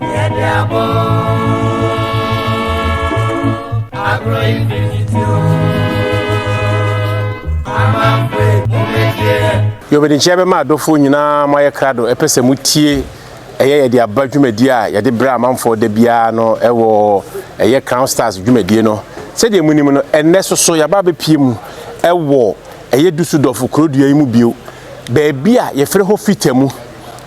Yɛde abɔ agorɔ yi bi titi o. Amampe mo bɛgyeɛ. Yɛbɛdekyeɛ bɛma adɔfoɔ nyinaa mo ayɛ krado ɛpɛ sɛ mo tie ɛyɛ yɛde aba dwumadie a yɛde brɛ amanfoɔ da biara no ɛwɔ ɛyɛ Crown Stars dwumadie no. Sɛdeɛ mo nim no ɛnnɛ soso yɛaba abɛpie mu ɛwɔ ɛyɛ Dusseldorf kurodua yi mu bio baabi a yɛfrɛ hɔ Fita mu.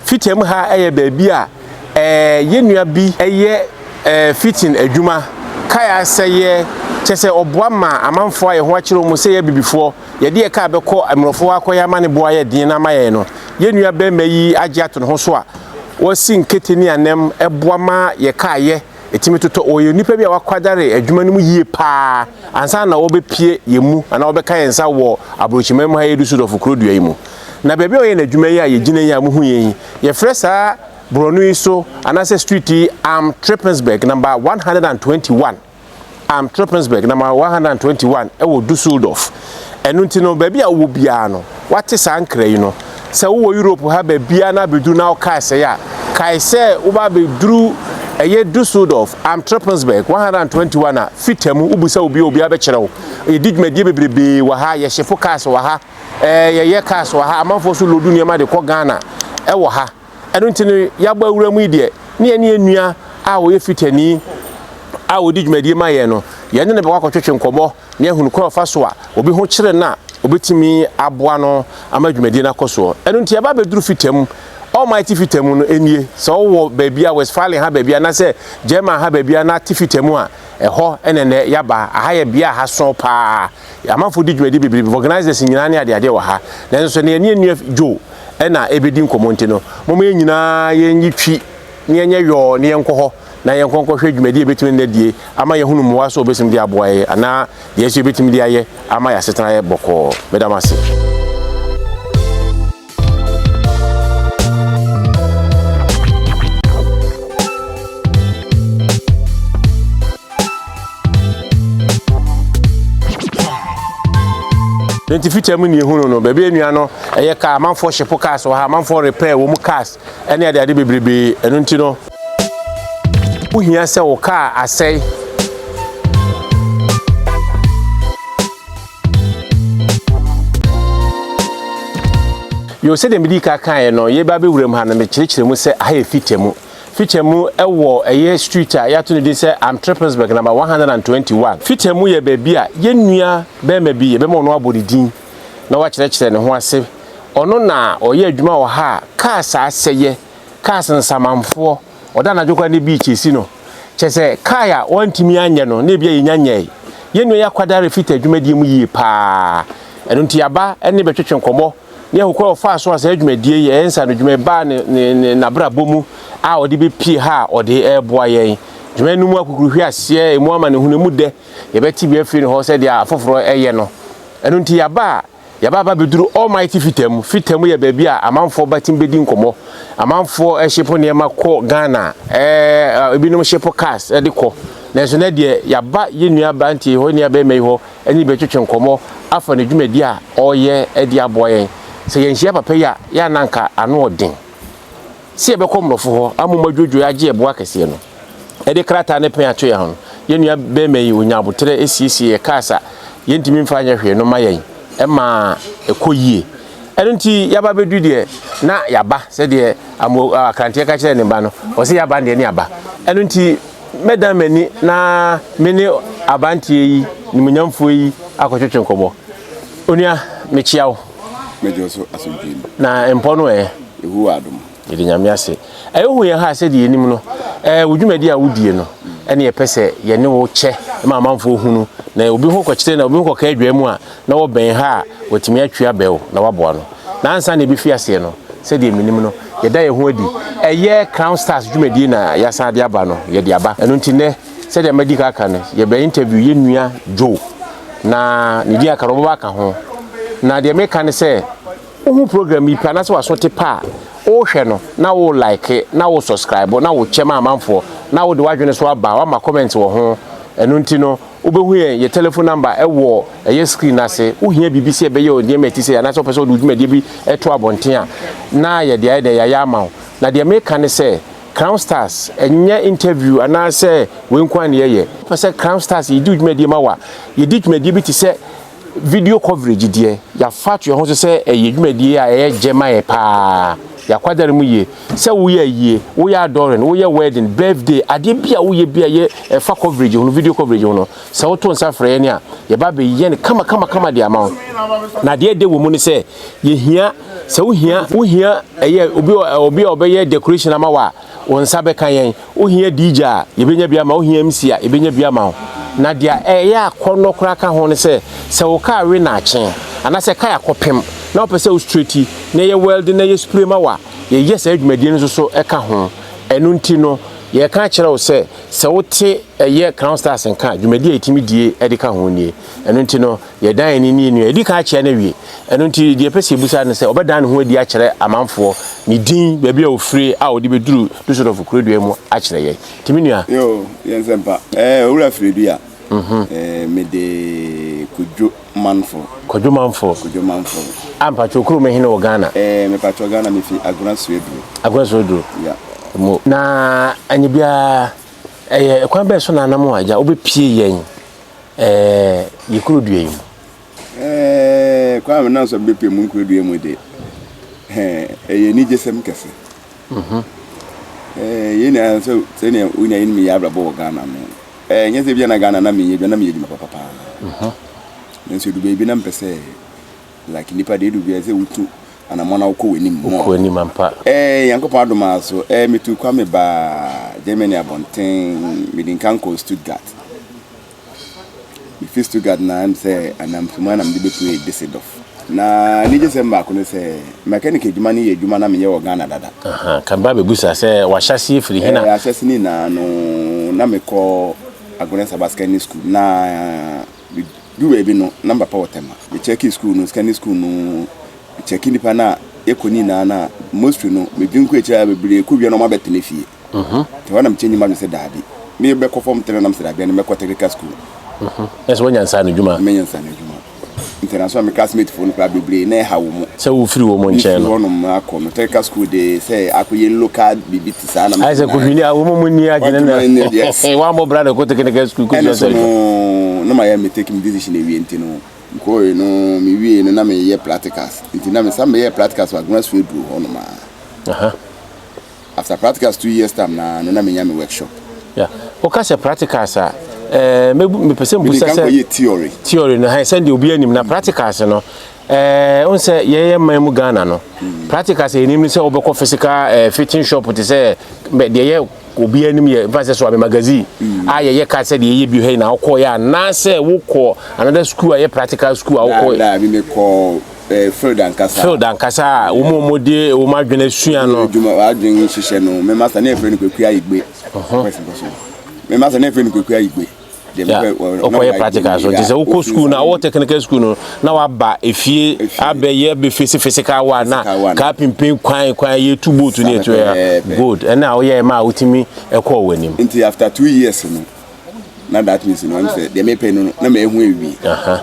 Fita mu ha ɛyɛ baabi a. Ɛɛ yɛ nua bi yɛ ɛɛ fitting adwuma kae a sɛ yɛ kyɛ sɛ ɔboa ma amanfoɔ a yɛ ho akyere wɔn sɛ yɛ abibifoɔ yɛde yɛ kaa bɛkɔ mmorɔfo hɔ akɔyɛ ama ne bo ayɛ den na ama yɛn no yɛ nua barima yi agye ato ne ho so a ɔsi nkete ne anam boa ma yɛ kaa yɛ tumi totɔ ɔyɛ onipa bi a wakwadare adwuma no mu yie paa ansa na ɔbɛ pie yɛ mu anaa ɔbɛ ka yɛ nsa wɔ abrokyiman mu ha yɛ Dusseldorf kuro dua yi mu na baabi a ɔyɛ na adwuma yi a yɛ gyina yi a mo hu yɛ yi Yɛfrɛ saa borɔno yi so anaasɛ street yi Am Trippensberg number 121. Am Trippensberg number 121 ɛwɔ Dusseldorf. Ɛno nti no baabi a wowɔ biara no woate saa nkra yi no. Sɛ wowɔ Europe ha baabiara na abɛduru na wo car sɛe a, kae sɛ woba abɛduru ɛyɛ Dusseldorf, Am Trippensberg 121 a, fita mu, wobisa obi a, obiara bɛkyerɛ wo. Yɛdi dwumadie bebrebee wɔ ha, yɛhyefo cars wɔ ha. Ɛɛ yɛyɛ cars wɔ ha, amanfoɔ nso loodu nneɛma de kɔ Ghana wɔ ha. Ɛno nti no, yɛabɔ awura mu yi deɛ, ne yɛne yɛn nua a ɔyɛ Fitani a ɔdi dwumadie ma yɛn no, yɛne no bɛkɔ akɔtwetwe nkɔmmɔ na yɛahunu kwan a ɔfa so a obi ho kyere no a ɔbɛtumi aboa no ama dwumadie no akɔ soɔ. Ɛno nti yɛaba abɛduru Fita mu, Almighty Fita mu no nie. Sɛ wowɔ baabiara, Westfalen ha baabiara anaasɛ German ha baabiara na te Fita mu a, ɛhɔ na ɛnnɛ yɛaba. Aha yɛ bea a ha sõ pa ara. Yɛn amanfoɔ di dwumadi bebrebe, vulcanizers nyinaa ne adeadeɛ wɔ ha. Nanso sɛdeɛ yɛne yɛn nua Joe na ɛrebɛdi nkɔmmɔ nti no, momma yɛn nyinaa yɛnyi twi na yɛnyɛ yɔɔ na yɛnkɔ hɔ na yɛnkɔ nkɔhwɛ dwumadi a ɛbɛtumi nnɛ die ama yɛahunu mmoa so a wɔbɛtumi de aboa yɛn anaa deɛ nso yɛbɛtumi de ayɛ ama yɛn asetena ayɛ bɔkɔɔ. Meda mo ase. nti fikyɛ mu ne ehunu no baabi enua no ɛyɛ kaa amanfoɔ hyepo cars wɔ ha amanfoɔ repair wɔn mu cars ɛne ade ade bebrebe ɛno nti no wohia sɛ wɔ kaa asɛe Yo, sɛdeɛ medii ka kaeɛ no, yɛreba abɛwuram ha no, mekyerɛkyerɛ mu sɛ aha yɛ Fittja mu. Fittja mu wɔ ɛyɛ street a yɛato no din sɛ Am Trippelsburg number 121. Fittja mu yɛ baabi a yɛn nua barima bi, yɛbɛma ɔno abɔ ne din na wakyerɛkyerɛ ne ho ase. Ɔno na ɔyɛ adwuma wɔ ha a cars asɛeɛ, cars nsamanfoɔ, Ɔda anadwo koraa ne beach si no. Kyerɛ sɛ kae a wɔantumi anyɛ no na ebia yɛnya nyɛe. Yɛn nua yi akwadare fit adwumadie mu yie pa ara. Ɛno nti yɛaba ne bɛtwetwe nkɔmmɔ na yɛahu kwan a ɔfaa so a saa dwumadie yi, ɛyɛ nsaanodwuma yi, baa n'abrabɔ mu a ɔde bɛpue ha a ɔde reboa yɛn. Dwuma no mu akukuruhweɛ aseɛ, ɛmu amanehunu, ɛmu dɛ, yɛbɛte bi afiri ne hɔ sɛdeɛ afoforɔ yɛ no. Ɛno nti yɛaba a. Yɛaba aba abɛduru Almighty Fita mu. Fita mu yɛ baabi a amanfoɔ ba tumi bɛdi nkɔmmɔ. Amanfoɔ hyepo nneɛma kɔ Ghana. Ɛɛ ebinom hyepo cars de kɔ. Nanso nnɛ deɛ yɛaba yɛn nua aberanteɛ yi hɔ, yɛn nua barima yi hɔ ne no bɛtwetwe nkɔmmɔ afa ne dwumadie a ɔreyɛ de aboa yɛn. Sɛ yɛanhyia papa yi a, yɛ a na anka ano yɛ den sɛ yɛbɛkɔ mmorɔfo hɔ ama wɔadwodwo yɛn agye yɛn boa kɛseɛ no. de krataa no pɛn ato yɛn ho no, yɛn nua bɛrima yi ɔnya aboterɛ siesie yɛ cars a yɛntumi mfa nyɛ hwee no ma yɛn ma ɛkɔ yie. Ɛno nti yɛaba bɛdu deɛ na yɛaba sɛdeɛ amo akranteɛ ka kyerɛ ne mma no ɔsɛ yɛaba deɛ ne yɛaba. Ɛno nti mɛdan m'ani na me ne aberanteɛ yi nimunyamfoɔ yi akɔtwetwe nkɔmmɔ. Onua mekyia wo. Mɛgye wo so asomdwee mu. Na mpɔ no ɛ? Yehowa adom. Yɛda Nyame ase ɛ wohu yɛn ha ɛ sɛdeɛ yɛnim no ɛ wo dwumadi a wodie no ɛne yɛpɛ sɛ yɛne wo kyɛ ma amanfoɔ hunu na obi ho kɔkyerɛ na obi ho kɔka adwaa mu a na wɔbɛn ha a watumi atwi abɛ wo na waboa no na ansa na ɛbɛfi aseɛ no sɛdeɛ menim no yɛda yɛn ho adi ɛyɛ Crown Stars dwumadie na yɛasan de aba no yɛde aba ɛno nti nɛ sɛdeɛ madi ka aka no yɛbɛ interview yɛ nua Joe na ne din aka no wɔbɛba aka ho na deɛ meka ne sɛ Wohu program yi pɛ anaasɛ w'aso te pɛ a, wohwɛ no na wo like na wo subscribe na wo kyɛ ma amanfoɔ na wode w'adwene so aba a wama comment wɔ ho. Ɛno nti no wobɛhu yɛn yɛ telephone number wɔ ɛyɛ screen no ase. Wohia biribi sɛ yɛbɛyɛ wo nneɛma a ɛte sɛ yei anaasɛ wopɛ sɛ wode wo dwumadie bi to abɔnten a na yɛde ayɛ dɛn yɛayɛ ama wo. Na deɛ meka ne sɛ Crown Stars ɛnyɛ interview anaasɛ wei nko ara na yɛyɛ. Wopɛ sɛ Crown Stars yɛdi wo dwumadie ma wo a, yɛdi dwumadie bi te sɛ. Video coverage deɛ, yɛafa ato yɛn ho so sɛ ɛyɛ dwumadie a ɛyɛ gyɛ ma yɛn pa ara. Yɛakwadare mu yie. Sɛ woyɛ ayie, woyɛ adɔren, woyɛ wedding, birthday, adeɛ bi a woyɛ bi a ɛyɛ ɛfa coverage ho no, video coverage ho no, sɛ woto nsa frɛ yɛn a, yɛba abɛyɛ no kamakamakama de ama wo. Na deɛ ɛdɛ wɔ mu ne sɛ, yɛhia, sɛ wohia, wohia ɛyɛ obi, obi a ɔbɛyɛ decoration ama wo a, wo nsa bɛka yɛn. Wo hia DJ a, yɛbɛnya bi ama wo, wo hia MC a, yɛbɛnya bi ama wo. Na deɛ ɛyɛ akɔnnɔ koraa ka ho ne sɛ, sɛ wo kaa we nnaakye, anaasɛ kaa kɔpem, na wopɛ sɛ wo straighti, na yɛ wɛlde na yɛ spray ma wo a, yɛyɛ saa dwumadie no nso so ka ho. Ɛno nti no, yɛreka akyerɛ wo sɛ, sɛ wote ɛyɛ Crown Stars nka a, dwumadie a yɛtumi die de ka ho nie. Ɛno nti no. Yɛdan yɛn ani nie no, yɛadi kan akyea no awie. Ɛno nti, deɛ yɛpɛ sɛ yɛbisa ne sɛ, ɔbɛdan ne ho adi akyerɛ amanfoɔ, ne din, baabi a ɔfirie a ɔde bɛduru Dusseldorf kurodua yi mu akyerɛ yɛn. Nti me nua. Yoo, yɛ nsɛmpa. Ɛɛ, Owura Firidua, ɛɛ, mede Kwadwo Manfo. Kwadwo Manfo? Kwadwo Manfo. Ah, mpakyɛw, kurom he ne wɔ Ghana? Ɛɛ, mepakyɛw, Ghana, mefi Agona Suaduro. Agona Suaduro? Ya. Mo. Na anyɛ biara, ɛyɛ kwan bɛn so na anam a, agya, wobɛpie yɛn? Ɛɛ, yi kuro dua yi mu. Ɛɛ, kwan a menam so a mebɛpue mu nkuro dua mu deɛ, hɛn, ɛyɛ anigyesɛm kɛse. Mhm. Ɛɛ, yei na sɛ, sɛdeɛ wo nyinaa nim yɛn abrabɔ wɔ Ghana no, ɛɛ, nyɛ sɛ ebia na Ghana na menyɛ adwuma, na meyɛ adwuma papa paa. Mhm. Nanso ɛdu baabi na mepɛ sɛ. like nipa deɛ edu bia sɛ wotu anamɔ na wokɔ w'anim mɔ wokɔ anim ampa ɛɛ nyankopɔn adom ara so ɛɛ metu kwa me baa germany abɔnten mede nka nkɔ stuttgart mefi stuttgart na ɛm sɛ anamfimu anam de bɛpue disedɔf na ne gye sɛm baako ne sɛ mechanic adwuma no yɛ adwuma na meyɛ wɔ ghana dada aha kan ba bɛbusa sɛ wahyɛseɛ firi hena ɛɛ ahyɛse ne nyinaa no na mekɔ agorɛ nsabaskani school na Medu baabi no na me papa wɔ Tema. Me checkii school no, secondary school no, me checkii nnipa no a yɛkɔ ne nyinaa no a, mostly no me dwen kɔ akyire a bebree kɔ wie no wɔn abɛtena fie. Nti ɛhɔ na me change m'adwene sɛ daabi, me bɛkɔ form three no na me sɛ daabi ɛne mɛkɔ technical school. Kyerɛ sɛ wanya nsaano adwuma. Manya nsaano adwuma. Nti ɛda so me classmate foɔ no koraa bebree na ɛha wɔn. Sɛ wo firi wɔn nkyɛn no. Me firi hɔ nom akɔ no, technical school de sɛ akɔ yɛ local biribi te. Isaac Odwini a wɔn mu ni adwene na wɔammɔ bra na ɛkɔ tekeneka sukuu kɔsi ɔsɔre no. na mayɛ me take me decision awie nti no mekɔɔe no mewie no na meyɛ practicals nti na mesa meyɛ practicals wɔ Agona Suo Aduro hɔ nom a after practicals two years time na no na menya me workshop. Yeah. Woka sɛ practicals a eh, mepɛ sɛ mbusa sɛ theory theory no sɛdeɛ obi anim na practicals no Eh, wohu sɛ yɛyɛ man mu Ghana no, practicals a yɛnim ne sɛ wobɛkɔ physical eh, fitting shop te sɛ deɛ yɛ obi anim yɛ mfa sɛ so ame magazine a yɛyɛ ka sɛ deɛ yɛyɛ bi hɛ na wokɔyɛ anaasɛ wokɔ another school a yɛ practical school a wokɔ Eh, field ankasa field ankasa a wɔn a wɔde wɔn adwene asua no adwuma adwene hyehyɛ no mɛma sɛ ne yɛfrɛ no kwaku ayigbe mɛma sɛ ne yɛfrɛ no kwaku ayigbe Yeah. Okɔyɛ practical so nti sɛ wokɔ sukuu na wɔ technical sukuu no na waba efie abɛyɛ bɛfesi physical one na kaa pimpin kwan kwan yɛ tu boat ne ɛtu ya good ɛne a woyɛ ma a wotumi ɛkɔɔ w'anim. Nti after two years no na that means no ɛm sɛ deɛ mepɛ no na mehu awie.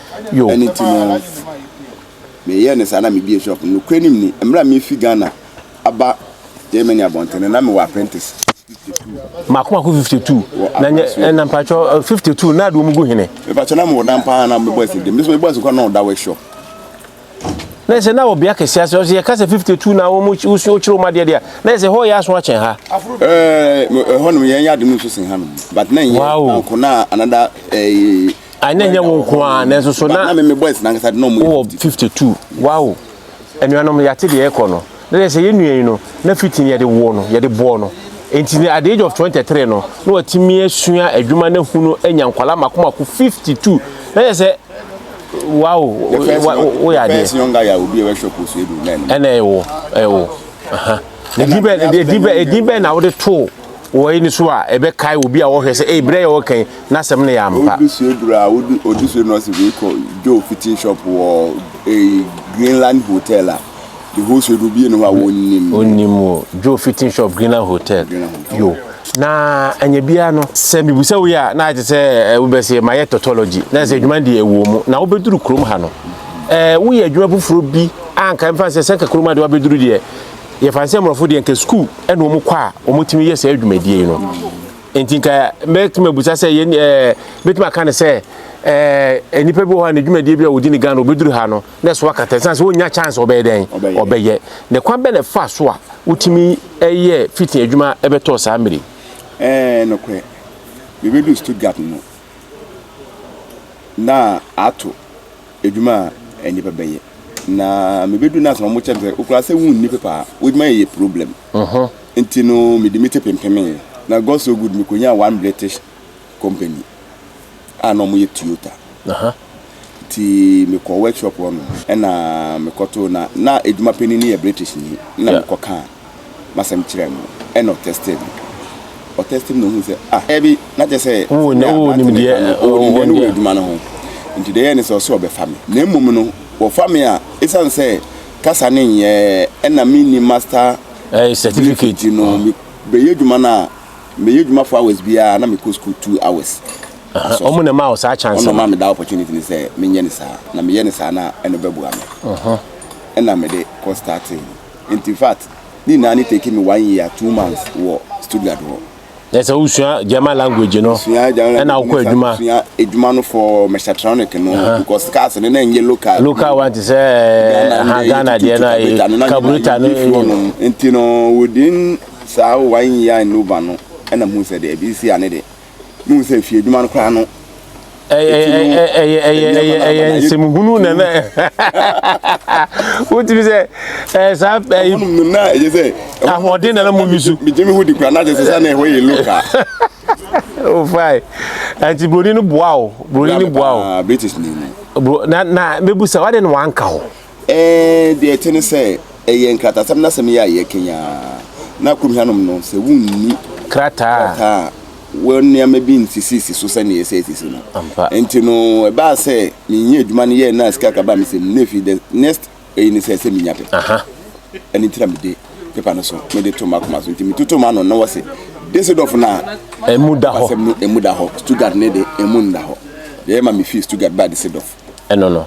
Yo. Ɛno nti no me yɛɛ no saa na me bie shop no. Nokorɛ nim ni, mmerɛ a me fi Ghana aba Germany abɔnten no na me wɔ apprentice. Mako mako 52. Na nyɛ ɛna mpatsɔ 52 na adi wɔn gu hene. Mpatsɔ na mo wɔ dan paa na mo bɔ ɛsɛ di. Mbɛ sɛ mo bɔ ɛsɛ kɔ na ɔda wɔ shop. na yɛ sɛ na wɔ bea kɛse ase ɔsɛ yɛka sɛ 52 na wɔn wosua wokyerɛ wɔn adeɛ deɛ a na yɛ sɛ hɔ yɛ aso akyɛn ha. ɛhɔ nom yɛn yɛ ade no nso sen ha nom but na nyɛ nanko na anada ɛɛ. ayi na nyɛ wɔn nko ara nanso so na na mɛmɛ boys nankasa de na wɔn yɛ 52 wow anuanom yɛate deɛ ɛkɔ no. Na deɛ sɛ yɛn nua yi no, na fiti no yɛde woo no, yɛde bɔɔ no. Enti no, at the age of 23 no, na watumi asua adwuma no ahu no anya nkwadaa mako mako 52. Na yɛ sɛ, wow, The first, wa- wo- woyɛ the first adeɛ. young guy a obi a ɛbɛhwɛ kɔ so edu nɛɛn. Ɛna ɛwo, ɛwo. Aha. Na Ɛna edin bɛn, ɛna edin bɛn, ɛna edin bɛn na wode too wɔ yi no so a ɛbɛkae obi a wɔhwɛ sɛ, ei, berɛ yɛ wɔka yi, n'asɛm no yɛ ampa. Odu so eduru a odu odu so no ɔsi wei kɔ Joe fitting shop wɔ eh, Greenland hotel a. The wholesale no obie ne hɔ a wonnim no. Onnim o. Joe fi tin shop Greenland Hotel. Greenland Hotel. Yo. Na anya biara no. Sɛ mebisa wo yi a na ayɛ sɛ eh, wobɛsɛ mayɛ tautology na sɛ adwuma deɛ ɛwɔ mu na wobɛduru kurom ha no eh, woyɛ adwuma foforɔ bi a nka mfa sɛ sɛ nka kurom ha deɛ wabɛduru deɛ yɛfa sɛ mmorɔfo deɛ nka sukuu ɛna wɔn kɔ a wɔtumi yɛ saa adwumadie yi no nti nka mɛtumi abusa sɛ yɛn ɛɛ eh, mɛtumi aka no sɛ ɛɛ eh, nnipa bi wɔ hɔ a n'adwumadie bi a wɔdi ne Ghana wɔbɛduru ha no na ɛso akata ɛsan sɛ ɔnya chance ɔbɛyɛ dɛn ɔbɛyɛ ne kwan bɛ na ɛfa so a wotumi ɛyɛ fiti adwuma ɛbɛtɔ saa mmiri. ɛɛ nokorɛ mebedu Stuttgart no na ato adwuma a nnipa bɛyɛ na mebedu na asɛm wɔkyɛ sɛ okura sɛ wonni pepa a wodwuma yɛ problem nti no mede me te pempemee na God so good mekonya one British company a na wɔyɛ Toyota. Nti mekɔɔ workshop hɔ nom ɛna mekɔtoo na na adwuma panin no yɛ Britishni na mekɔkaa m'asɛm kyerɛɛ no ɛna ɔtɛstee me. Ɔtɛstee me na ohuu sɛ ah ɛbi na kyerɛ sɛ wowɔ nimdeɛ no wɔ adwuma no ho. Nti deɛ ɛyɛɛ ne sɛ ɔse ɔbɛfa me na mmom no wɔfa me a ɛsiane sɛ kasa no nyɛɛ ɛna menni master certificate nti no mebɛyɛ adwuma no a meyɛ adwuma four hours biara na mekɔ school two hours ɔmo na ɛma wo saa chance no ɔno ma me da opportunity ne sɛ menyɛ ne saa na meyɛ ne saa na ɛno bɛboa me ɛna mede kɔ starting nti fact ne nyinaa ne take me one year two months wɔ Stuttgart hɔ na sɛ wosua German language no ɛna wokɔ adwuma sua adwuma no for mechatronic no because cars no na ɛnyɛ local local one te sɛ Ghana deɛ no carburetor no nti no within Saa o, w'aye nyi a nnu ba no na muhu sɛ deɛ ɛbi si a ne de, muhu sɛ fie adwuma no koraa no, eti no ɛnyɛ kwan ara ba na yɛ tu. Ɛhɔnom no na ɛyɛ sɛ ɛhɔ no na megye me ho di koraa, na kyerɛ sɛ saa na ɛhɔ yɛ local. Bra me paa, British ni no. Ee, deɛ ɛte ne sɛ, ɛyɛ nkratasɛm no asɛm yi a yɛrekanya ara, na kurom hanom no, sɛ wonni krataa a, wɔ nneɛma bi nsisisi so sɛnea ɛsɛ sisi no. Enti no, ɛbaa sɛ menyɛ adwuma no yɛɛ na sika kakra a mesɛ mu no efi the next eyi ne sɛ sɛ menya pepa. Ɛno nti na mede pepa no so mede to m'akoma so. Nti metoto m'ano na wɔse Düsseldorf na emu da hɔ, asɛm no emu da hɔ, Stuttgart ne de emu nda hɔ. Deɛ ɛma mefii Stuttgart baa Düsseldorf. ɛno no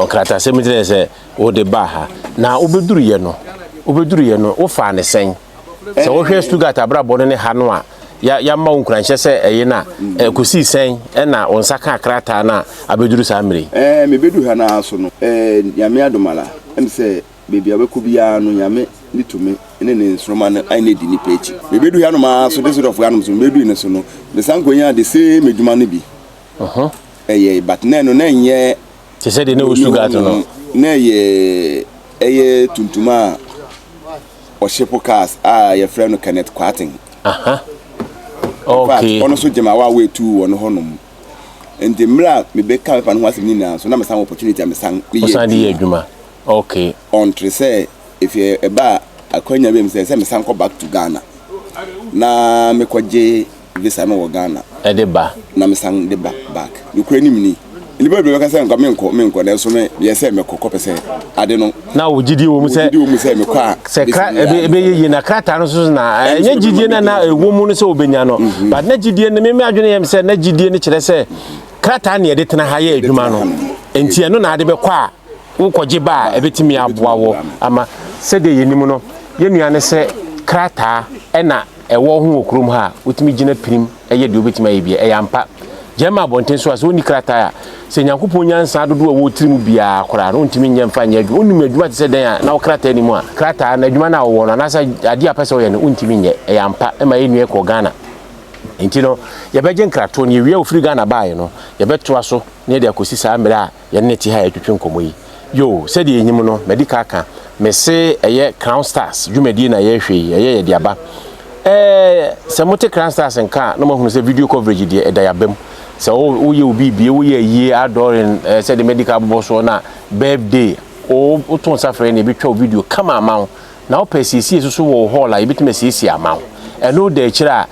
nkratasɛm no kyerɛ sɛ wode baa ha na wobɛduruyɛ no wobɛduruyɛ no wofaa ne sɛn sɛ wohwɛ Stuttgart abrabɔ no ne ha no a yɛama wo nkuranhyɛ sɛ ɛye no a ɛkɔsii sɛn ɛna wo nsa kaa krataa no a abɛduru saa mmerɛ yi ɛɛ mebɛduru ha no ara so no ɛɛ nyame adomala ɛm sɛ baabi a wobɛkɔ biara no nyame ne tumi ne ne nsoroma no ayɛ no adi nipa akyi mebɛduru ha nom ara so de sodɔfoɔ anom so mebɛduru no so no mesan kɔnyaa de same adwuma no bi Ɔhɔ. Ɛyɛ but na ɛno na ɛnyɛ. Te sɛ deɛ na ɛwɔ Stuttgart no. Na ɛyɛ ɛyɛ tuntum a ɔhyepo cars a yɛfrɛ no Kenneth Kwaten. Aha. Okay. Ɔno nso gyema wa wetu wɔ no hɔnom. Nti mmerɛ a mebɛka mepa no ho asɛm nyinaa nso na mesan opportunity a mesan meyɛ adwuma. Okay. Ɔntere sɛ ɛfie ɛba akwanya bi sɛ sɛ mesan kɔ back to Ghana na mekɔgye visa no wɔ Ghana. De ba. Na mesan de ba back. Nokorɛ nim ni. Nnipa bebree bɛka sɛ nka menkɔ menkɔ nanso me meyɛ sɛ mɛkɔ kɔpɛ sɛ ade no. Na wo gyidie wɔ mu sɛ. Gyidie wɔ mu sɛ mekɔ a. Sɛ kra ɛbɛyɛ yie na krataa no nso na ɛnyɛ gyidie na na ɛwɔ mu no sɛ wobɛnya no. Mhm. But na gyidie no me adwene yɛ me sɛ na gyidie no kyerɛ sɛ krataa ne yɛde tena ha yɛ adwuma no. Nti ɛno na ade bɛkɔ a wokɔgye ba a ɛbɛtumi aboa wɔ ama sɛdeɛ yɛnim no yɛn nua no sɛ krataa ɛna ɛwɔ ho wɔ kurom ha a, wotumi gyina pirim yɛ deɛ wobɛtumi ayɛ biara. Ɛyɛ ampa. Gyae ma abɔnten so a, sɛ wonni krataa a, sɛ Nyankopɔn nyansa dodoɔ a ɛwɔ wo tiri mu biara koraa no, wontumi nyɛ mfa nyɛ adwuma. Wonim adwuma te sɛ dɛn a, na wo krataa nni mu a, krataa no, adwuma no a wowɔ no, anaasɛ adeɛ a wopɛ sɛ woyɛ no, wontumi nyɛ. Ɛyɛ ampa. Ɛma yɛn nua yi kɔɔ Ghana. Enti no, yɛbɛgye nkratoɔ no, yɛwie a ɔfiri Ghana baeɛ no, yɛbɛtoa so na yɛde akɔsi saa mmerɛ a, yɛne no te ha retwetwe nkɔmmɔ yi. Yoo, sɛdeɛ yɛnim no, madi ka aka, mese ɛyɛ Crown Stars dwumadie na yɛrehwɛ yi, ɛyɛ yɛde aba. Ɛɛ, sɛ mote Crown Stars nka a, na moahunu sɛ video coverage deɛ ɛda yɛn abam. Sɛ wo, woyɛ wo biribie, woyɛ ayie, adɔɔren, ɛɛ, sɛdeɛ madi ka abobɔ soɔ no a, birthday, oo, woto nsa frɛ yɛn na yɛbɛtwa wo video kama ama wo. na wopɛ asiesie nso so wɔ wo hall a yɛbɛtumi asiesie ama wo ɛno da akyire a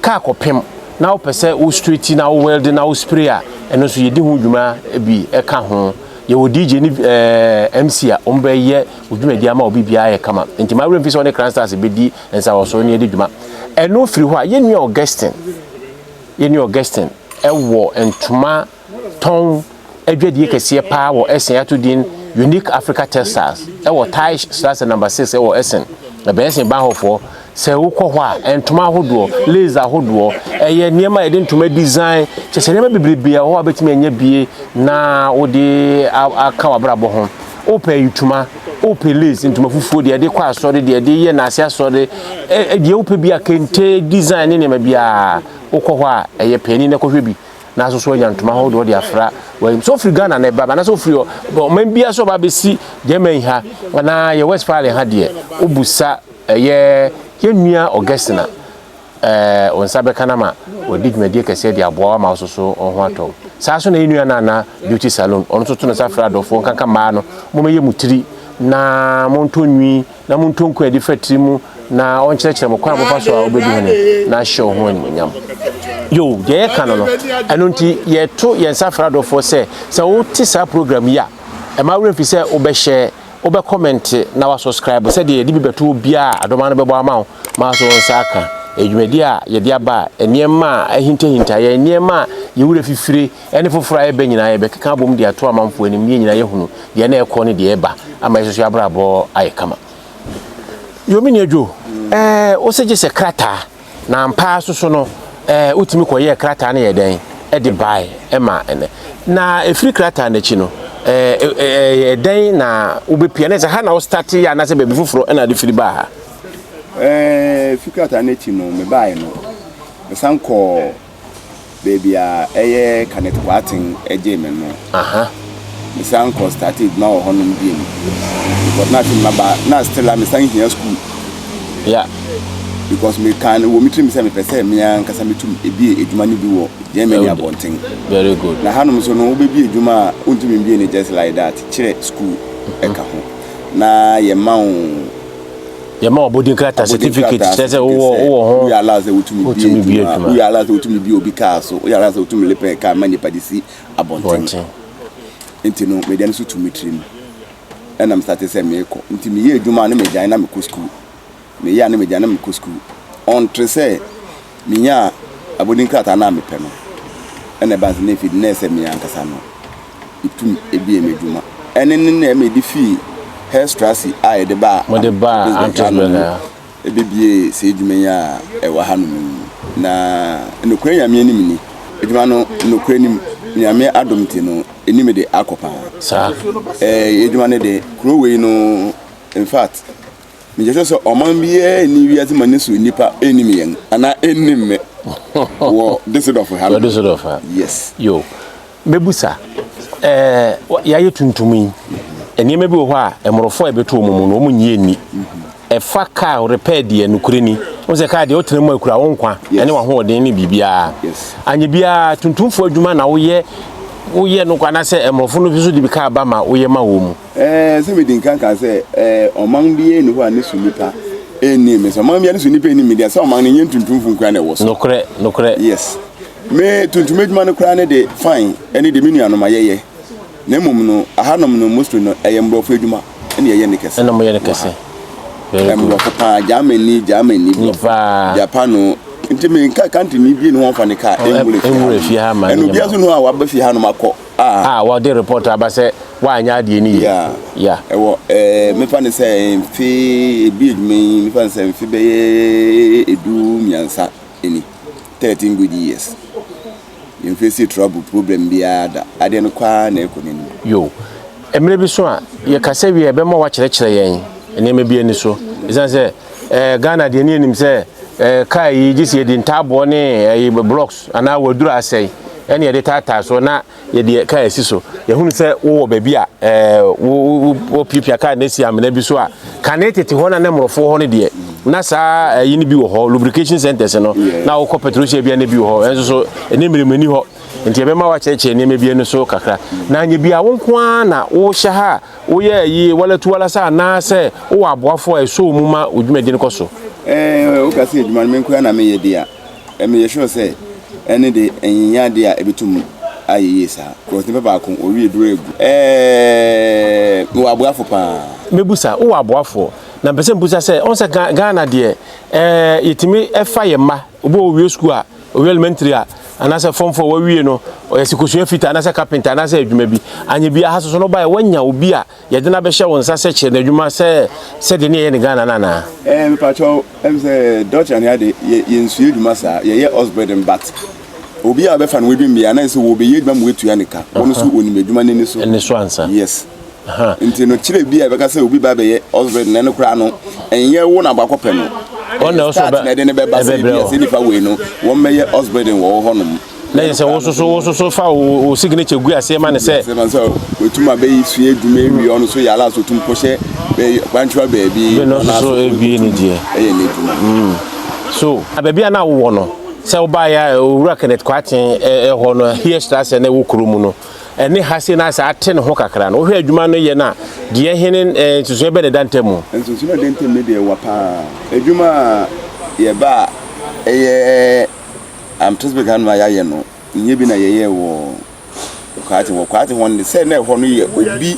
kaa kɔpem na wopɛ sɛ wo straighti na wo welde na wo spray a ɛno nso yɛdi ho dwuma bi ɛka ho yɛwɔ DJ ne eh, MC a wɔn bɛyɛ dwumadi ama obi biara yɛ kama nti maa wura mfi sɛ ɔne Crown Stars bɛdi nsawɔso ne yɛde dwuma ɛno firi hɔ a yɛnua Augustine yɛnua Augustine ɛwɔ ntoma tɔn adwadie kɛseɛ paa wɔ Essen ato din Unique Africa Textiles wɔ Teisch Strasse Number 6 wɔ Essen. Ɛbɛn Essen Bahnhoffoɔ. Sɛ wokɔ hɔ a, ntoma ahodoɔ, lace ahodoɔ, ɛyɛ nneɛma a yɛde ntoma design, kyerɛ sɛ nneɛma bebrebe wɔ hɔ a wobɛtumi anya bi na wode aka w'abrabɔ ho. Wopɛ ayitoma, wopɛ lace, ntoma fufuo, deɛ yɛde kɔ asɔre, deɛ yɛde yɛ naase asɔre, deɛ wopɛ bi a kente design ne nneɛma biara, wokɔ hɔ a ɛyɛ panin na kɔhwɛ bi. na asoso anya ntoma ahodoɔ de afra wɔn so ofiri ghana na ɛba anaasɛ ofiri ɔman bia so ɔba abɛsi germany ha anaa yɛ west pale ha deɛ wobusa ɛyɛ yɛnnua ɔgɛsena ɛɛ wɔn nsa bɛka no ma wɔde dwumadie kɛseɛ de aboa ama asoso wɔn ho atɔ saa so na yɛnnua no ana beauty salon ɔno nso to no sa frɛ adɔfoɔ nkanka mmaa no momɛyɛ mu tiri na montɔ nwi na montɔ nko adi fa tiri mu na ɔnkyerɛkyerɛ mo kwan a mofa so a wobɛdi hene na ahyɛ wo ho animonyam yo deɛ yɛka no no ɛno nti yɛto yɛn nsa fra adɔfoɔ sɛ sɛ wote saa program yi a ɛma werɛ mfi sɛ wobɛhyɛ wobɛ kɔmɛnte na wasubscribe sɛdeɛ yɛde bi bɛto obiara a adɔma no bɛbɔ ama wo ma so nsa aka adwumadi a yɛde aba a nneɛma a ahintahinta yɛ nneɛma a yɛwura fifire ɛne foforɔ a ɛreba nyinaa yɛbɛkeka abom de ato amanfoɔ anim ne yɛn nyinaa yɛhunu deɛ na ɛrekɔ ne deɛ ɛreba ama yɛsoso yɛ abrabɔ ayɛ kama yomini adwo ɛɛ wosɛ gye sɛ krataa na mpaa soso no ɛɛ wotumi kɔyɛɛ krataa no yɛ dɛn ɛde bae ɛma ɛnɛ na ɛfiri krataa no akyi no ɛɛ dɛn na wobɛpia ne sɛ ha na wostate yɛ anaasɛ baabi foforɔ ɛna ade firi baa ha ɛɛ firi krataa no akyi no mebaeɛ no mesan kɔɔ baabi a ɛyɛ Kannet Boateng gyee me no, mesan kɔ startee adwuma wɔ hɔnom bio. Because na afei maba na still a mesan hia school. Yeah. Because me kan wɔ me tirim sɛ mepɛ sɛ me ankasa metum ebie adwuma no bi wɔ Germany abɔnten. Very good. Na hanom nso no wobɛbie adwuma a wontumi mbie no just like that kyerɛ school ɛka ho na yɛma wo Yɛma wo abɔdin krataa, certificate, kyerɛ sɛ wowɔ wowɔ ho. Woyɛ ala sɛ wotumi bie adwuma. Woyɛ ala sɛ wotumi bie obi kaa so. Woyɛ ala sɛ wotumi lepɛ kaa ma nipa de si abɔnten. Nti no, medeɛ no so tu me tiri mu. Ɛna mesate sɛ meekɔ. Nti meyɛ adwuma ne megyae na mekɔ sukuu. Meyɛ a ne megyae na mekɔ sukuu. Ɔntre sɛ. Minyaa abɔdin krataa no a mepɛ no, ɛnna ɛbaa sɛ na efi de na ɛsɛ sɛ me ankasa na mitum bue m'adwuma. Ɛno ne nea mede fii Heerstrasse a yɛde baa Antwerp no mu bebuee saa adwuma yi a ɛwɔ hanom yi. Na nokorɛ Nyame anim ni, adwuma no, nokorɛ nim, Nyame adom nti no, anim de akɔ paa. Saa. Ɛɛ, adwuma no de, kuro wei no, in fact, Megyina so sɛ ɔman biara nni wiase ma ne so nnipa nnim yɛn anaa nnim me wɔ Düsseldorf ha. Wɔ Düsseldorf ha. Yes. Yo. Mebusa. Ɛɛ yɛayɛ tuntum yi. Nneɛma bi wɔ hɔ a mmorɔfo a ɛbɛto wɔn mu no wɔn nyɛ nni. Ɛfa kaa repair deɛ nokorɛ ni. Wɔn sɛ kaa deɛ wotena mu a ekura wo nkwa ɛne w'ahoɔden ne biribiara. Anyɛ biara tuntumfoɔ adwuma na woyɛ woyɛ no kwa anaasɛ mmorɔfo no nso de bi kaa ba ma woyɛ ma wɔn mu. Ɛɛ, sɛ midi nkan ka sɛ, ɛɛ, ɔman biara nni hɔ a ne so nnipa nnim me. Sɛ ɔman biara ne so nnipa nnim me deɛ, sɛ ɔman no nyɛ ntuntumfo nkura na ɛwɔ so. Nokorɛ, nokorɛ. Yes. Me tuntum adwuma no koraa ne de fine ɛne de me nuanom a yɛyɛ. Na mmom no, ahanom no mostly no, ɛyɛ mmorɔfo adwuma ɛna yɛyɛ ne kɛse. Ɛna moyɛ ne kɛse. Very good. Mmorɔfo paa, Germany, Germany, mmorɔfo, Japano. Nti me nka country ni bie ne hɔ a ɔmfa ne car ɛnwura fie ha ma ne nyɛ ma. Ɛna obiara nso ne hɔ a waba fie hanom akɔ. a wɔde repɔɔto aba sɛ woanyɛ adeɛ no yie. Yeah. Ɛwɔ ɛɛ mefa no sɛ mfe ebi adwuma yi mefa no sɛ mfe bɛyɛ edu mmiɛnsa ni thirteen good years yɛn face trouble problem biara da adeɛ no kɔ ara na ɛkɔ n'anim. Yo, mmerɛ bi so a yɛkasa wie a ɛbɛma woakyerɛkyerɛ yɛn nneɛma bi ani so ɛsiane sɛ. Eh, Ghana deɛ ne anim sɛ eh, kaa yi gye sɛ yɛde ntaaboɔ ne eh, blocks anaa wɔadura asɛe ɛne yɛde taataa so na yɛde kaa asi so. Yɛhunu sɛ wowɔ baabi a eh, wɔpiapia kaa no asi amena bi so a, kane tete hɔ na ne mmorɔfoɔ hɔ no deɛ na saa ɛyi eh, no bi wɔ hɔ lubrication centers no na wokɔ petrosia bia na bi wɔ hɔ ɛnso so ɛne mmerɛmani hɔ nti yɛbɛma wakyerɛkyerɛ nneɛma bi no so kakra na nyɛ bia wo nko ara na wohyɛ ha a Woyɛɛ yie, woalatu woalasa anaasɛ wowɔ aboafoɔ a ɛsɔ wo mu ma wo dwumadie no kɔ so? Sɛ woka sɛ adwuma no me nkoaa na meyɛ deɛ a, meyɛ sure sɛ ɛno de ɛnyɛ adeɛ a ɛbɛtum ayɛ yie saa coz nipa baako ɔwie duro agu. Mewɔ aboafo paa. Mɛbusa, wowɔ aboafoɔ? Na mpɛ sɛ mebusa sɛ, wohu sɛ Ghana deɛ yɛtumi fa yɛn mma, obi wɔ hɔ ɔwie sukuu a Owie elementary a, anaasɛ form four wawie no, ɔyɛ sɛ kosua fitaa anaasɛ carpenter anaasɛ adwuma bi. Anyɛ biara, ha soso no baeɛ wanya obi a yɛde no abɛhyɛ wo nsa sɛ kyerɛ no adwuma sɛ sɛdeɛ ne yɛyɛ no Ghana no anaa? Ɛɛ, mepakyɛw, ɛm sɛ Dutchland ha de, yɛ yɛnsua adwuma saa, yɛyɛ Osbredden but obi a wobɛfa no w'adwuma mu biara na ɛsɛ sɛ wɔbɛyɛ adwuma ma woatua no ka, wɔno nso wɔnim adwuma no ani so. Ani so ansa. Yes. ha. Nti no kyerɛ bi a ɛbɛka sɛ obi ba bɛyɛ ɔsbɛd na ɛno koraa no ɛnyɛ wo na abakɔ pɛ no ɛyɛ start na ɛde ne bɛba sɛ bi a sɛ nipa wei no wɔn bɛyɛ ɔsbɛd wɔ hɔ nom na yɛ sɛ wososo wososo fa wo signature gu aseɛ ma ne sɛ sɛ man sɛ wɔtum abɛyi sua adwuma awie ɔno so yɛ ala so tum kɔhyɛ kwankyerɛ baabi no soso ɛbie ne deɛ ɛyɛ ne adwuma so abaabi a na wowɔ no sɛ wobaeɛ a owura kenneth kwaten ɛhɔ no hie strasɛ na ɛwɔ kuro mu no ɛne ha sei na ayɛ sɛ ate ne ho kakra no, wohwɛ adwuma no yɛ no a, deɛ he ne eh, nsusuɛ bɛ na ɛda ntam mu? Nsusuɛ a ɛda ntam no deɛ ɛwa paa. Adwuma a yɛba a ɛyɛ Amtesberg hanom a yɛayɛ no, nyɛ bi na yɛyɛɛ wɔ Kwate hɔ. Kwate hɔ no, sɛ na ɛhɔ no yɛ obi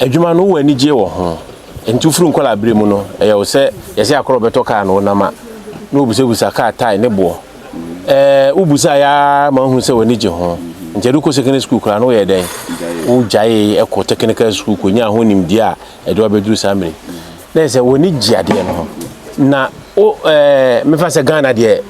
Adwuma no, wowɔ anigyeɛ wɔ ho? Ɛnti wofiri nkwadaa berɛ mu no, ɛyɛ wo sɛ yɛse akora ɔbɛtɔ kaa na wonam a, na wobusabusa kaa tae ne boɔ. Ɛɛ, wobusaa yɛ ara ma wohu sɛ w'ani gye ho. Nti ɛde wokɔ secondary school koraa no woyɛ dɛn? Wogyaee kɔ technical school kɔnyaa ho nimdeɛ a ɛde wabɛduru saa mmere. Na ɛsɛ w'ani gye adeɛ no ho. Na wo ɛɛ, mefa sɛ Ghana deɛ,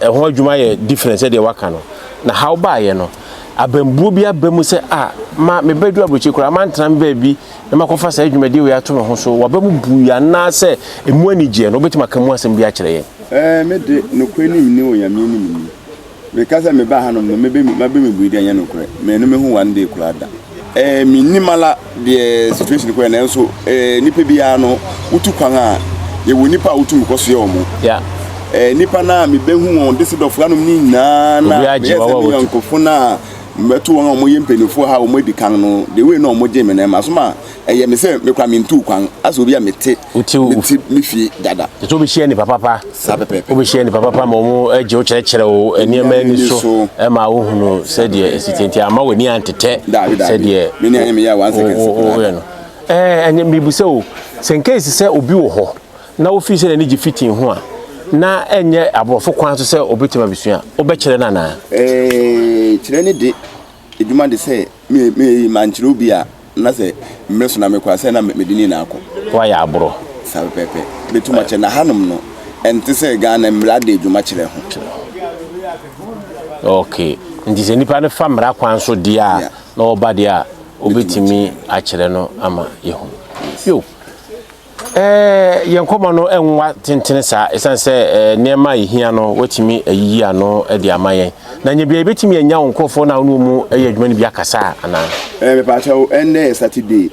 Ɛho adwuma yɛ different sɛdeɛ waka no. Na how baayɛ no, abambuo bi aba mu sɛ ah ma me bɛduru aburokyire koraa mantena me baabi na makɔfa saa dwumadie wei ato me ho so. Waba mu buui anaasɛ ɛmu ani gyeɛ no, wobɛtumi aka mu asɛm bi akyerɛ yɛn? Ɛɛ, me de, nokorɛ nim nni Onyame nim nni. Meka sɛ mebaa hanom no, mebe, mabe me bui de, ɛnyɛ nokorɛ. Mannu me ho one day koraa da. Eh menni mala deɛ situation kɔɛ nanso eh nipa biara no wotu kwan a yɛwɔ nipa a wotumi kɔ so yɛ wɔn yeah. eh nipa no a mebɛhu wɔn de se dɔfo anom ne nyinaa na meyɛ sɛ me yɔnkofo no a mɛto wɔn a wɔn yɛ mpanimfoɔ ha wɔn adi kan no de wei na wɔn gye me na ɛma so ma ɛyɛ me sɛ mekora mentu kwan asɛ obi a mete mete me fie dada. Ɛsɛ wobɛhyia nnipa papa. Saa pɛpɛɛpɛ. Wobɛhyia nnipa papa ma wɔn agye wo kyerɛkyerɛ wo nneɛma ani so ma wohunu sɛdeɛ ɛsi te nti ama w'ani antetɛ sɛdeɛ woyɛ no. Ɛnyɛ mmibu sɛ o sɛ nkesi sɛ obi wɔ hɔ na wofii sɛ n'ani gye fitin ho a na ɛnyɛ aborɔfo kwan so sɛ obɛtumi abɛsua wobɛkyerɛ no anaa? Ɛɛ kyerɛ ne de adwuma de sɛ mankyerɛw bi a na sɛ mmere so na mekɔ a sɛ na mede ne nyinaa kɔ. Woayɛ aboro. Saa pɛpɛɛpɛ. Metum akyerɛ na hanom no ɛnte sɛ Ghana mmara de adwuma kyerɛ ho. Ok, nti sɛ nipa no fa mmara kwan so deɛ a na ɔba deɛ a wobɛtumi akyerɛ no ama yɛhu. Yo, Yɛn nkɔmmɔ no nwa tentene saa esiane sɛ nneɛma a yehia no watumi ayiyi ano de ama yɛn. Na nya biara yebetumi anya wo nkurɔfoɔ no a wo ne wɔn yɛ adwuma no bi akasa anaa? Ɛɛ, mepaakyɛ wo, ɛnnɛ yɛ Saturday.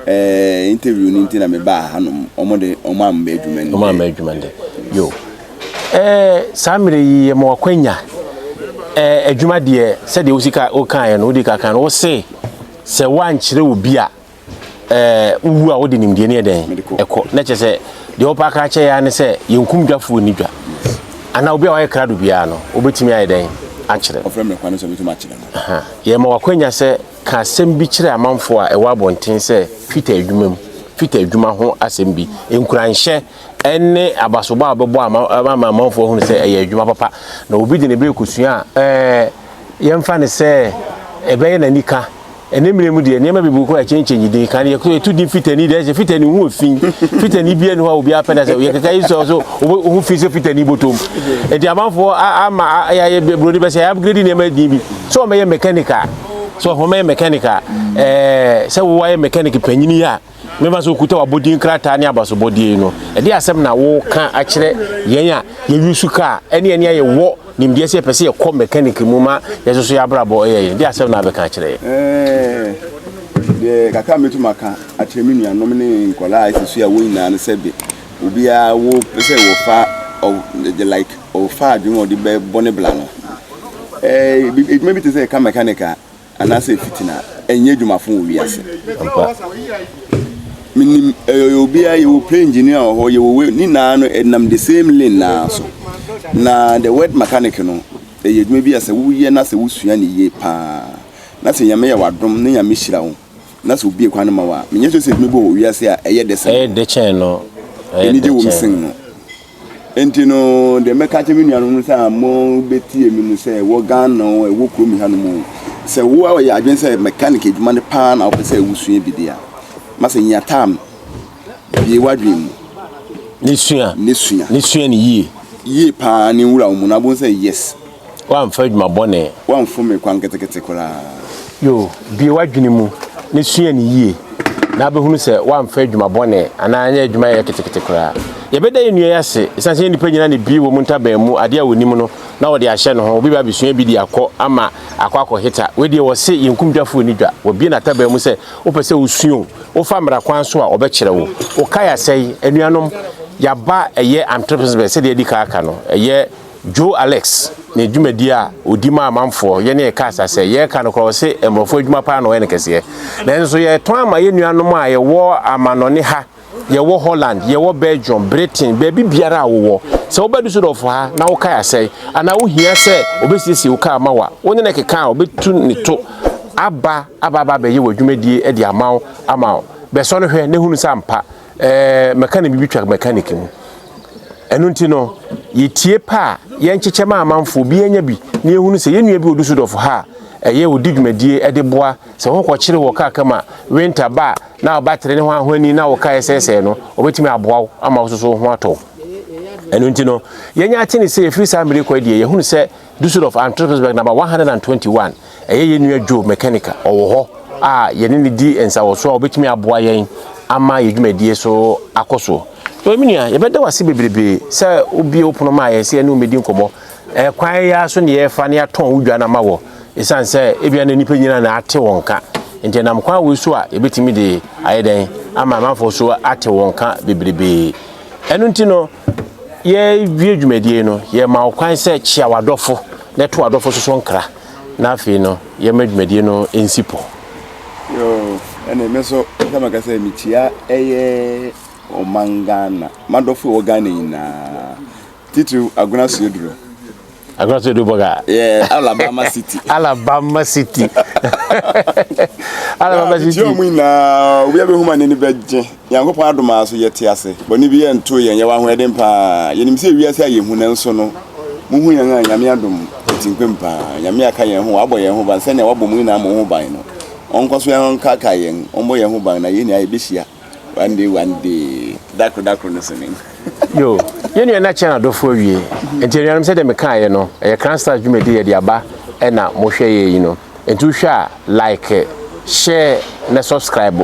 Ɛɛ, interview no nti na mebaa ha nom. Wɔn de, wɔn amma adwuma nnɛ. Wɔn amma adwuma nnɛ. Yo. Ɛɛ, saa mmerɛ yi yɛ ma wakwanya. Ɛɛ, adwuma deɛ sɛdeɛ wosika wokaeɛ no, wodi ka kan no, wose sɛ woankyerɛ obi a ɛɛ wowu a wode nimdeɛ no yɛ dɛn ɛkɔ na kyerɛ sɛ deɛ wɔpɛ aka akyɛ yɛa ne sɛ yɛnkum dwafoɔ ni dwa anaa obi a wayɛ krado biara no wobɛtumi ayɛ dɛn akyerɛ yɛma wakwanya sɛ ka asɛm bi kyerɛ amanfoɔ a ɛwɔ abɔnten sɛ fita adwuma mu fita adwuma ho asɛm bi nkuranhyɛ ɛne abasobɔ a wobɛbɔ ama amanfoɔ ahunu sɛ ɛyɛ adwuma papa na obi de ne berɛ kɔsua a ɛɛ yɛmfa ne sɛ ɛbɛyɛ n'anika Ɛnnɛ mmerɛ mu deɛ, nneɛma bebree kɔ ɛkyɛnkyɛnyi din. Kan no yɛtu din Fitani deɛ, ɛsɛ Fitani ho wɔ fi. Fitani biara ni hɔ a obiara pɛ da sɛ yɛ kɛkɛ yi sɛ ɔso ho fi sɛ Fitani bɔtɔm. Ɛti amanfoɔ ama yɛayɛ broni bɛ sɛ yɛ upgrade nneɛma din bi. Sɛ ɔmɛyɛ mechanic a, sɛ ɔmɛyɛ mechanic a, ɛɛ sɛ wo ayɛ mechanic panyini a. Mɛma sɛ wokuta w'abɔdin krataa ne abasobɔdeɛ yi no, ɛdeɛ asɛm na woka akyerɛ yɛn a yɛyusu kaa, ɛne yɛn a yɛwɔ nimdeɛ sɛ yɛpɛ sɛ yɛkɔ mɛkaniki mu ma yɛsoso yɛn abrabɔ yɛ yɛn, ɛdeɛ asɛm na abɛka akyerɛ yɛn? Ɛɛ, deɛ kakra a mɛtumi aka akyerɛ me nuanom ne nkɔla a ɛsɛ su a wɔn nyinaa no sɛ de, obiara wɔpɛ sɛ wɔfa, the like, wɔfa adwene wɔde bɛbɔ ne bla no. Ɛɛ, edwuma bi te sɛ ɛka mɛkaniki a, anaasɛ fitina ɛnyɛ adwuma fo wɔ wiase menim ɛyɛ eh, obiara yɛwɔ plane engineer wɔ hɔ yɛwɔ wei ne nyinaa no ɛnam eh, the same lane naa so na the word mechanic no ɛyɛ eh, adwuma bi a sɛ woyɛ na sɛ wosua ne yie paa na sɛ nyame yɛ wadom ne nyame hyira wo na sɛ obie kwan no ma wo a menyɛ sɛ sɛ adwuma bi wɔ wiase a ɛyɛ dɛ sɛ ɛyɛ dɛ kyɛn no ɛyɛ dɛ kyɛn no Nti no deɛ mɛka akyerɛ me nuanom no sɛ a mobɛtie me no sɛ wɔ Ghana o ɛwɔ kurom ha no mu o sɛ wo a ɔyɛ adwene sɛ mechanic adwuma no paa na wopɛ sɛ wosua bi deɛ a ma sɛ nya tam bie w'adwene mu ne sua ne sua ne sua ne yie yie paa ne nwura wo mu na wobɛhu sɛ yes Woamfa adwuma bɔne. Woamfom me kwan ketekete koraa. Yo, bue w'adwene mu na sua no yie, na wobɛhunu sɛ woamfa adwuma bɔne anaa anyɛ adwuma a ɛyɛ ketekete koraa. Yɛbɛda yɛn nua yi ase ɛsiane sɛ yɛn nnipa nyinaa na ɛbue wɔn ntaban mu adeɛ a wɔnim no na wɔde ahyɛ ne ho. Obi bɛba abɛsua bi de akɔ ama akɔ akɔheta. Wei deɛ wɔse yɛn kumdwafoɔ nni dwa. Wabue n'ataban mu sɛ wopɛ sɛ wosua o, wofa mmara kwan so a ɔbɛkyerɛ wo. Wokae asɛe. Anuanom, yɛaba ɛyɛ anthropism sɛdeɛ adi kan aka no. Ɛyɛ. Joe Alex ne dwumadie a ɔdi ma amanfoɔ, yɛne yɛ kaa sa sɛ, yɛka no koraa ɔse mmorɔfoɔ adwuma paa na ɔyɛ no kɛseɛ. Nanso yɛtɔn ama yɛ nuanom a yɛwɔ amanɔne ha, yɛwɔ Holland, yɛwɔ Belgium, Britain, baabi biara a wowɔ. Sɛ woba Dusseldorf ha na wo kaa asɛe anaa wohia sɛ ɔbɛsiesie wo kaa ma wo a, wone no keka a ɔbɛtu ne to aba aba aba abɛyɛ w'adwumadie de ama wo ama wo. Bɛsɔ no hwɛ na hunu sɛ ampa Ɛɛ, mɛkanik biribi twa mɛkanik mu. Ɛno nti no, yɛtie pɛ a yɛnkyekyɛ ma amanfoɔ, obiara nya bi, na yɛhunu sɛ yɛn nua bi wɔ Dusseldorf ha a ɛyɛ ɔdi dwumadie de boa sɛ wokɔkyere wɔ kaa ka mu a, winter ba a, na wo battery ne ho ahoni na wo kaa ɛsɛesɛe no, ɔbɛtumi aboa wo ama wo nso so wo ho atɔ wo. Ɛno nti no, yɛanya ateneseɛ, ɛfiri saa mmerɛ yi kɔ deɛ, yɛhunu sɛ Düsseldorf, Antrpesberg Naba one hundred and twenty one, Ɛyɛ yɛn nua Joe Mecanic a ɔwɔ hɔ a yɛne no di nsawɔso a ɔbɛtumi aboa yɛn ama yɛn dwumadie so akɔ so. Ɔyɛ me nua, yɛbɛda wo ase bebrebe sɛ wobue wo pono maa yɛn sɛ yɛne wo mmɛdi nkɔmmɔ. Ɛkwan yi ara so na yɛfa na yɛatɔn wo dwa no ama wɔ, ɛsiane sɛ ebia na nnipa nyinaa na ate wo nka. Nti ɛnam kwan wei so a yɛbɛtumi de ayɛ dɛn ama amanfoɔ so ate wo nka bebrebe. Ɛno nti no, yɛrewie dwumadie no, yɛma wo kwan sɛ kyea w'adɔfo na ɛto w'adɔfo so so nkra na afei no yɛma dwumadie no nsi po. Yoo, ɛne me so sɛ maka sɛ mekyia ɛyɛ ɔman Ghana, m'adɔfo wɔ Ghana nyinaa, titiriw Agona Sueduro. Akra Sɛ Dubɔg a. Yeah, Alabama City. Alabama City. Alabama City. Ti omu na obi abe huma nani beje. Yango pa adoma so yete ase. Boni bi ye nto ye nyewa ho eden pa. Yenim se wi ase aye hu na nso no. Mu hu yan a nyame adom. Ti nkwem pa. Nyame aka yen ho wabo yen ho ban sene wabo mu ina mo ho ban no. Onko so yan ka ka yen. Ombo yen ho ban na ye ni aye beshia. One day one day dakoro dakoro no so nim. Yo, yɛn nua na kyɛn adɔfo awie. Nti anuanom sɛdeɛ mekaeɛ no, ɛyɛ Crown Stars dwumadi a yɛde aba ɛna mohwɛ yɛn yi no. Nti wohwɛ a, like, share na subscribe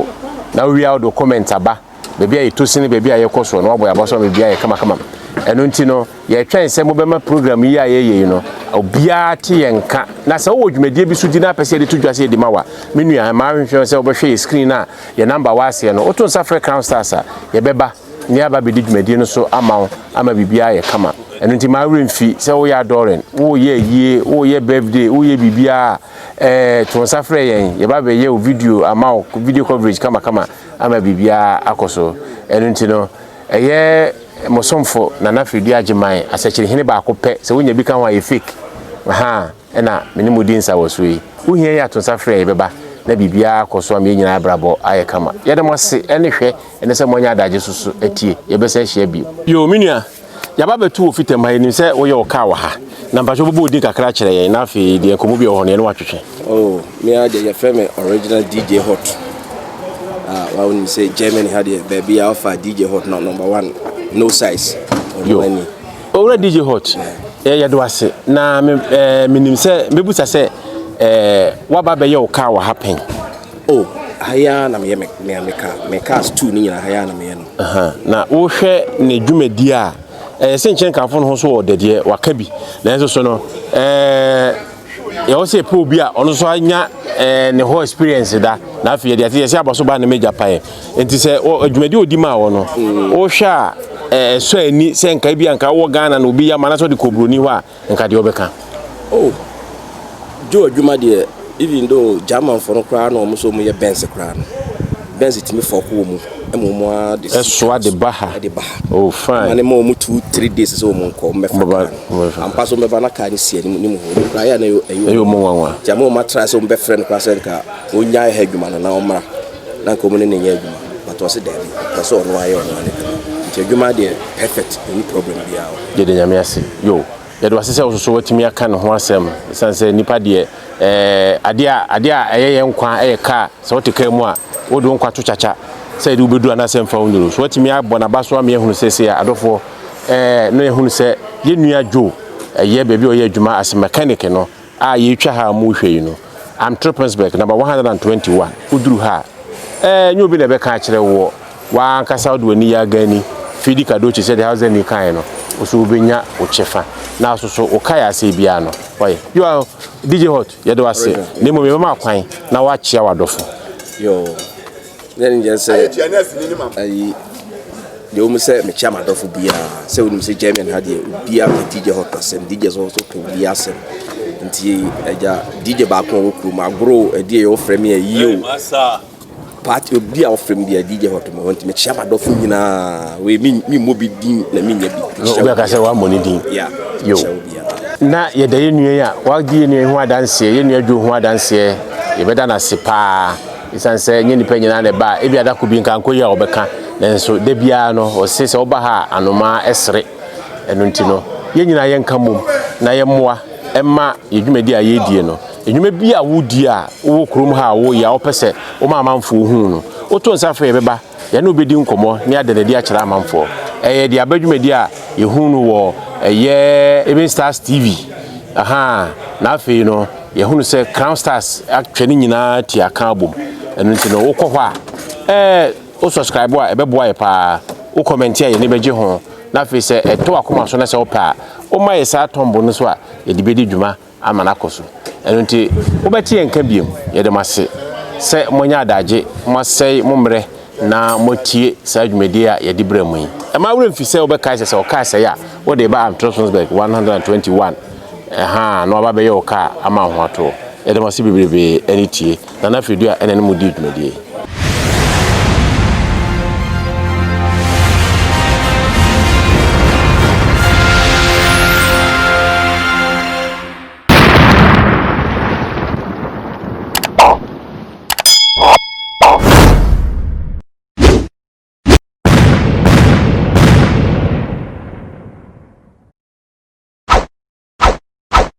na wowie a wode wo comment aba. Baabi a yɛtɔ sini, baabi a yɛkɔ soɔ no woabɔ yɛn abɔso ama biribiara ayɛ kamakamam. Ɛno nti no, yɛretwɛn sɛ mobɛma program yi a yɛyɛ yi no obiara te yɛn nka. Na sɛ wowɔ dwumadie bi so di na apɛ sɛ yɛde to dwa sɛ yɛde ma wo a, me nua, mmaa hwehwɛ sɛ wobɛhwɛ yɛ screen a Yɛ number wɔ aseɛ no. Woto nsa frɛ Crown Stars a, yɛbɛba na yɛaba abɛdi dwumadie no so ama wo ama biribiara ayɛ kama. Ɛno nti mma wo werɛ mfi sɛ woyɛ adɔɔren, woreyɛ ayie, woreyɛ birthday, woreyɛ biribiara a, eh, to nsa frɛ yɛn. Yɛba abɛyɛ wo video ama wo, video coverage kamakama ama biribiara akɔ so. Ɛno nti no, ɛyɛ mo somfo Nana Freddie Agyeman, asɛkyerɛhene baako pɛ. Sɛ wonya bi ka ho a, ɛyɛ fake. Ahaa. na me ne mo di nsa wɔ so yi. Wo hia yi ato nsa frɛ yɛ bɛba na biribiara akɔ so ama yɛn nyinaa abrabɔ ayɛ kama. Yɛda mo ase ɛne hwɛ ɛne sɛ moanya adagye so so atie. Yɛbɛsan ahyia bio. Yoo me nua, yɛaba abɛto wɔ fitam ha, yɛnim sɛ woyɛ wo car wɔ ha. Na mpakyɛ wobɛbɔ wo din kakra akyerɛ yɛn na afei deɛ nkɔmmɔ bi wɔ hɔ no yɛne wo atwetwe. Oh, me ara deɛ yɛfrɛ me Original DJ Hot. Ah, wa wonim sɛ Germany ha deɛ baabi a wofa DJ Hot no number one, no size. Ɔno Yoo. ani. Owura DJ Hot, eh, yɛdo ase, na me, eh, menim sɛ mɛbusa sɛ eh, woaba bɛyɛ wo kaa wɔ ha pɛn. O, oh, ha yi ara na meyɛ me, me, me kaa, me kaa stew ne nyina ha yi ara na meyɛ no. Uh -huh. Na wohwɛ ne dwumadie a, ɛyɛ sɛ nkyɛn kaafo no ho so wɔ dadeɛ, waka bi, nanso so no, eh, Ɛwɔ sɛ yɛpɛ obi a ɔno nso anya eh, ne hɔ experience da na afei yɛde ate yɛsɛ abɔ so ba ne magya paeɛ nti sɛ adwumadi ɔdi maa wɔ no mm. wohwɛ a eh, ɛsɔ eh, ani sɛ nka bi a nka wɔ ghana na obi yɛ ama na sɛ ɔde kɔ buroni hɔ a nka deɛ ɔbɛka oh. jo adwuma deɛ even though germanfoɔ no koraa na wɔn nso wɔyɛ bɛnse koraa no bɛnse tumi fɔko wɔ mu ɛsoa de ba ha oh fine ne ma wɔn two three days sɛ wɔn nkɔ wɔn bɛfa kaa no ampa so wɔn bɛba na kaa no si anim ne mu hɔ wɔn kura yɛ na ɛyɛ wɔn nwanwa ti ama wɔn atra sɛ wɔn bɛfrɛ no kora sɛ nka wɔn nya ɛha adwuma no na wɔn mmra na nka wɔn ne ne nyɛ adwuma but wɔn se dɛbi wɔn sɛ wɔn ayɛ wɔn ne nti adwuma deɛ perfect ɛni problem biara. yɛde nyame ase yo Yɛda wo ase sɛ wo nso so woatumi aka ne ho asɛm ɛsiane sɛ nnipa deɛ adeɛ a adeɛ a ɛyɛ yɛn nkwa yɛ kaa sɛ wote kaa mu a wode wo nkwa to kyakya sɛ ɛde wobɛduru anaasɛ mfa wo nnuru so woatumi abɔ n'aba so ama yɛahunu sɛ sei a adɔfoɔ na yɛhunu sɛ yɛnnua Joe ɛyɛ baabi a ɔyɛ adwuma as mechanic no a yɛtwa ha a mo hwɛ yi no am Tropensberg number 121 wo duru ha a ɛɛ nyɛ obi na ɛbɛka akyerɛ woɔ waa ankasa wode w'ani yɛ agani fidi kadochi sɛde Hausdemir kaeɛ no wo so wobɛnya wo kyefa na aso so wo kae asɛe biara no ɔyɛ you are DJ Hot yɛde wase na mmom yɛbɛma akwan na woakyea w'adɔfo. Dɛn ne gyɛ sɛ ayi deɛ wɔn sɛ mekyia m'adɔfo biara sɛ wɔnim sɛ German ha deɛ obiara pɛ DJ hɔ kasɛm DJ sɛ wɔso pɛ obi asɛm nti agya DJ baako a wɔkuro mu agoro ɛdeɛ yɛ wɔfrɛ me ayi o paati obi a wɔfrɛ me deɛ DJ hɔ tɔmɔ wɔn nti mekyia m'adɔfo nyinaa wei mi mi mmɔ bi din na mi nya bi. obi aka sɛ wɔammɔ ne din. ya yo na yɛda yɛ nua yi a wagye yɛ nua yi ho adanseɛ yɛ nua dwo ho adanseɛ yɛbɛda no ase paa. Esiane sɛ ɛnyɛ nnipa nyinaa na ɛba a, ebia da koro bi nka nkɔ yi a wɔbɛka. Nanso da biara no, wɔse sɛ woba ha a, anomaa sere. Ɛno nti no, yɛn nyinaa yɛnka mmom na yɛmmoa mma yɛn dwumadi a yɛredie no, nnwuma bi a woredie a wowɔ kurom ha a woreyɛ a wopɛ sɛ woma amanfoɔ hu no, woto nsa frɛ yɛn bɛba. Yɛne wo bɛdi nkɔmmɔ ne ada no adi akyerɛ amanfoɔ. Ɛyɛ de aba dwumadi a yɛhunu no wɔ ɛyɛ Even Stars TV. Ahaa, na afei no yɛhunu sɛ Crown Stars atwa ne nyinaa ti aka abom. Ɛno nti no wokɔ hɔ a, ɛɛ, wo subscribe a ɛbɛboa yɛ paa. Wo kɔmɛnte a yɛn ani bɛgye ho. Na afei sɛ ɛtɔ w'akoma so na sɛ wopɛ a, woma yɛ saa tɔmbo no so a yɛde bɛdi dwuma. ama no akɔ so. Ɛno nti, mobɛte yɛn nka bio. Yɛda mo ase sɛ moanya adagye, moasɛe mo mmerɛ na moatie saa dwumadie a yɛde brɛ mo yi. Mma wo werɛ mfi sɛ wobɛkae sɛ, sɛ ɔkaa sɛeɛ a, wode reba Am Trostensberg 121 ha na waba abɛyɛ wo kaa ama ahoatoɔ. Yɛda mo ase bebrebee ne tie. Nana Firidua na ɛne mo dii dwumadie yi.